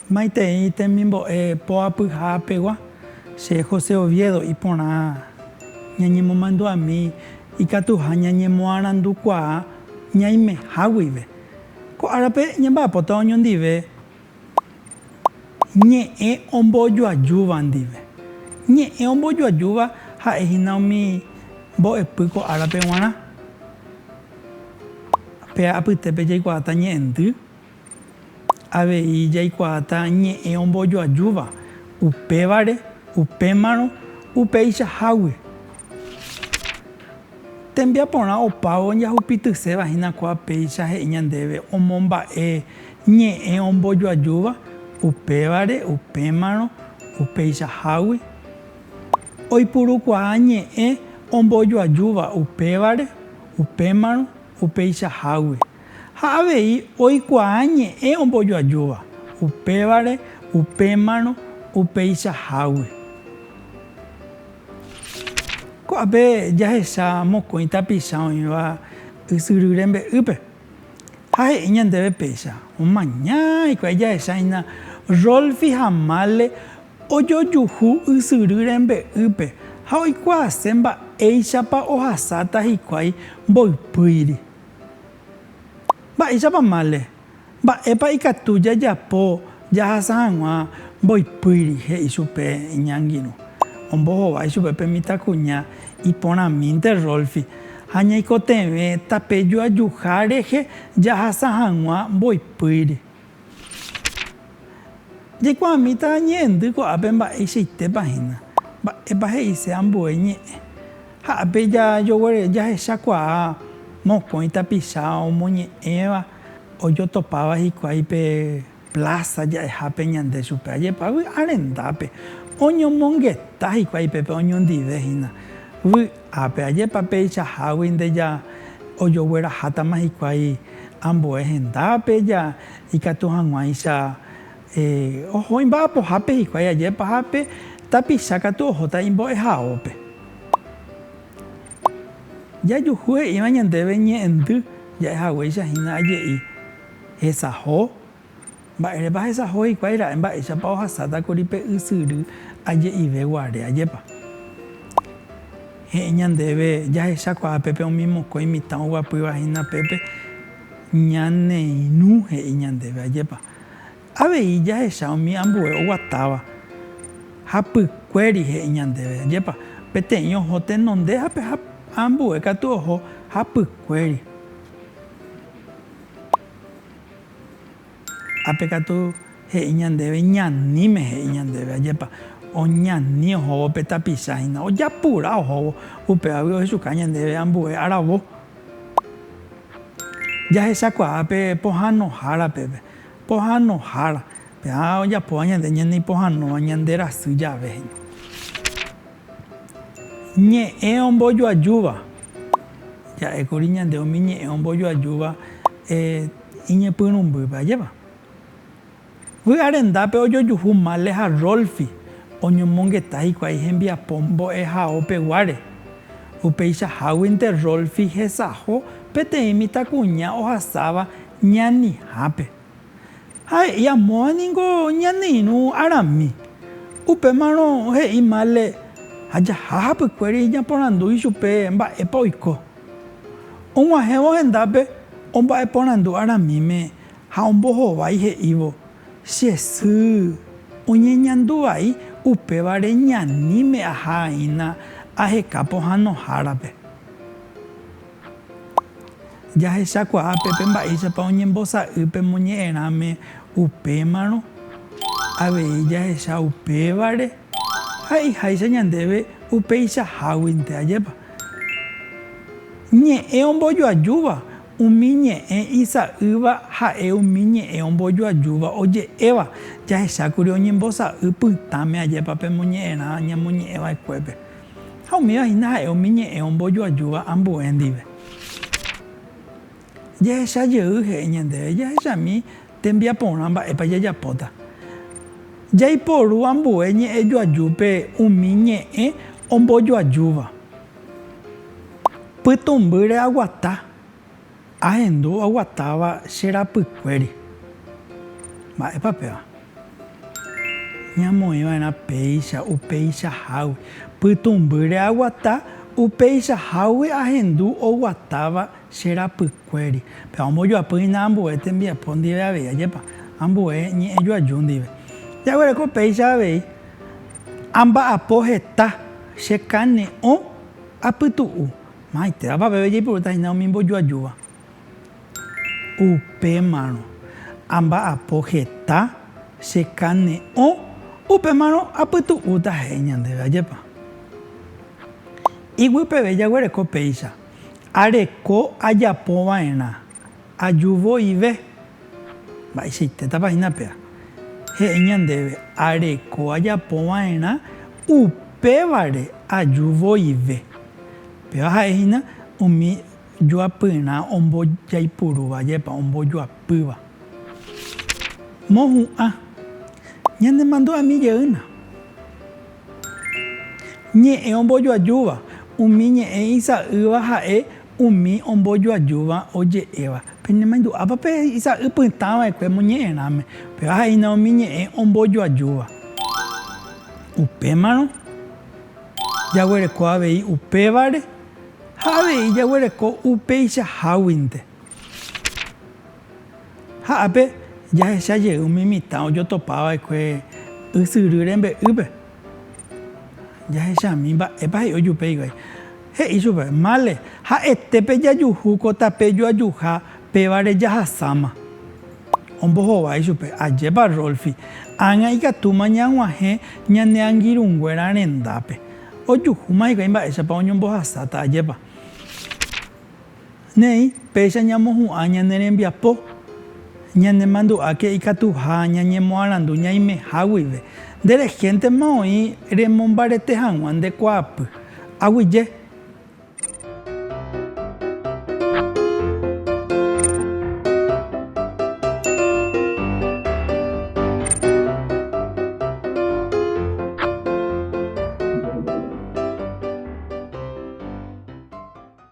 Maitei temimbo'e poapyha pegua, che José Oviedo iporã ñañemomandu'ami ikatuha ñañemoarandukuaa ñaimeha guive. Ko árape ñamba'apóta oñondive ñe'ẽ ombojoajúva ndive. Ñe'ẽ ombojoajúva ha'e hína umi mbo'epy ko árape g̃uarã. Pe apytépe jaikuaáta ñe'ẽndy, avei jaikuaáta ñe'ẽ ombojoajúva, upévare, upémarõ, upeichahágui. Tembiaporã opávo jahupityseva hína kua péicha he'i ñandéve omomba'e ñe'ẽ ombojoajúva, upévare, upémarõ, upeichahágui. Oipurukuaa ñe'ẽ ombojoajúva upévare, upémarõ, upeichahágui. Ha avei oikuaa ñe'ẽ ombojoajúva upévare, upémarõ, upeichahágui. Ko'ápe jahecha mokõi tapicha oĩva ysyry rembe'ýpe, ha he'i ñandéve péicha, Omaña hikuái jahechahína Rolfi ha Male ojojuhu ysyry rembe'ýpe ha oikuaase mba'éichapa ohasáta hikuái mboypýiri. Mba'éichapa Male? Mba'épa ikatu jajapo jahasa hag̃ua mboypýri? he'i chupe iñangirũ. Ombohovái chupe pe mitãkuña iporãmínte Rolfi ha ñaikotevẽ tape joajuha rehe jahasa hag̃ua mboypýri. Jaikuaamíta ñe'ẽndy ko'ápe mba'eichaitépa hína. Mba'épa he'ise ambue ñe'ẽ? Ha ápe jajoguere jahechakuaa mokõi tapicha omoñe'ẽva ojotopáva hikuái pe pláza ja'ehápe ñande chupe. Ajépa vy'arendápe oñomongeta hikuái pépe oñondive hína vy'ápe. Ajépa peichahágui nde ja ojoguerahátama hikuái ambue hendápe ja ikatu hag̃uáicha oho imba'apohápe hikuái. Ajépa ápe tapicha katu ohóta imbo'ehaópe. Jajuhu'e'ỹva ñandéve ñe'ẽndy ja'e haguéicha hína aje'i, Hesaho. Mba'érepa hesaho hikuái ra'e mba'éichapa ohasáta kuri pe ysyry aje'ive guare? Ajépa he'i ñandéve jahechakuaa pépe umi mokõi mitã oguapýva hína pépe ñaneirũ he'i ñandéve? Ajépa. Avei jahecha umi ambue oguatáva ha pykuéri he'i ñandéve, Ajépa, peteĩ oho tenondehápe ha ambue katu oho ha pykuéri. Ápe katu he'i ñandéve ñaníme he'i ñandéve, Ajépa, oñani ohóvo pe tapicha hína, ojapura ohóvo, upévagui ohechuka ñandéve ambue aravo. Jahechakuaa pe pohãnohára peve. Pohanohára, pe'a ojapóva ñande ñande ipohanóva ñande rasy jave. Ñe'ẽ ombojoajúva, ja'ékuri ñande umi ñe'ẽ ombojoajúva iñepyrũmbýpe ajépa. Vy'arendápe ojojuhu Male ha Rolfi oñomongeta hikuái hembiapo mbo'ehaopeguáre. Upeichaháguinte Rolfi hesaho peteĩ mitãkuña ohasáva ñanihápe. Ha he'i amóva ningo ñane irũ arami. Upémarõ he'i Male ha jaha hapykuéri ñaporandu ichupe mba'épa oiko. Og̃uahẽvo hendápe omba'eporandu aramíme ha ombohovái he'ívo, Che sy, oñeñandu vai upévare ñaníme ahaína aheka pohãnohárape. Jahechakuaa pépe mba'éichapa oñembosa'y pe moñe'ẽrãme upémarõ, avei jahecha upévare ha'iháicha ñandéve upeichaháguinte, ajépa? Ñe'ẽ ombojoajúva, umi ñe'ẽ isa'ýva ha'e umi ñe'ẽ ombojoajúva oje'éva, jahechákuri oñembosa'y pytãme ajépa pe moñe'ẽrã ñamoñe'ẽva'ekuépe. Ha umíva hína ha'e umi ñe'ẽ ombojoajúva ambue ndive. Jehecha jey he'i ñandéve jahechami tembiaporã mba'épa jajapóta. Jaiporu ambue ñe'ẽjoajúpe umi ñe'ẽ ombojoajúva. Pytũmbýre aguata. Ahendu aguatáva che rapykuéri. Mba'épa péva? Ñamoĩva'erã péicha upeichahágui. Pytũmbýre aguata upeichahágui ahendu oguatáva che rapykuéri. Péva ombojoapy hína ambue tembiapo ndive avei, ajépa? Ambue ñe'ẽ joaju ndive. Jaguereko péicha avei, Amba'apo heta, chekane'õ, apytu'u. Maitévapa peve jaipurúta hína umi mbojoajúva? Upémarõ amba'apo heta chekane'õ, upémarõ apytu'úta he'i ñandéve, ajépa? Iguy peve jaguereko péicha, areko ajapova'erã Ajuvoive, mba'eichaitétapa hína péva, he'i ñandéve, areko ajapo va'erã upévare ajuvoive. Péva ha'e hína umi joapyrã ombojaipurúva jepa ombojoapýva. Mohu'ã, ñanemandu'ami jeýna. Ñe'ẽ ombojoajúva, umi ñe'ẽ isa'ýva ha'e Umi ombojoajúva oje'éva, Penemaindu'ápa pe isa'y pytã vaekue moñe'ẽrãme? Upéva ha'éina umi ñe'ẽ ombojoajúva. Upémarõ, jaguereko avei upévare ha avei jaguereko upeichaháguinte. Ha ápe, jahecha jey umi mitã ojotopa vaekue ysyry rembe'ýpe. Jahechami, mba'épa he'i ojupe hikuái. He'i chupe, Mále, ha'ete pejajuhu ko tape joajuha, pévare jahasáma. Ombohovái chupe, Ajépa Rolfi, ág̃a ikatúma ñag̃uahẽ ñane angirũnguéra rendápe. Ojuhúma hikuái mba'éichapa oñombohasáta, ajépa. Néi, péicha ñamohu'ã ñane rembiapo, ñanemandu'áke ikatuha ñañemoarandu ñaimeha guive. Nde rehéntema oĩ remombarete hag̃ua nde kuaapy. Aguyje.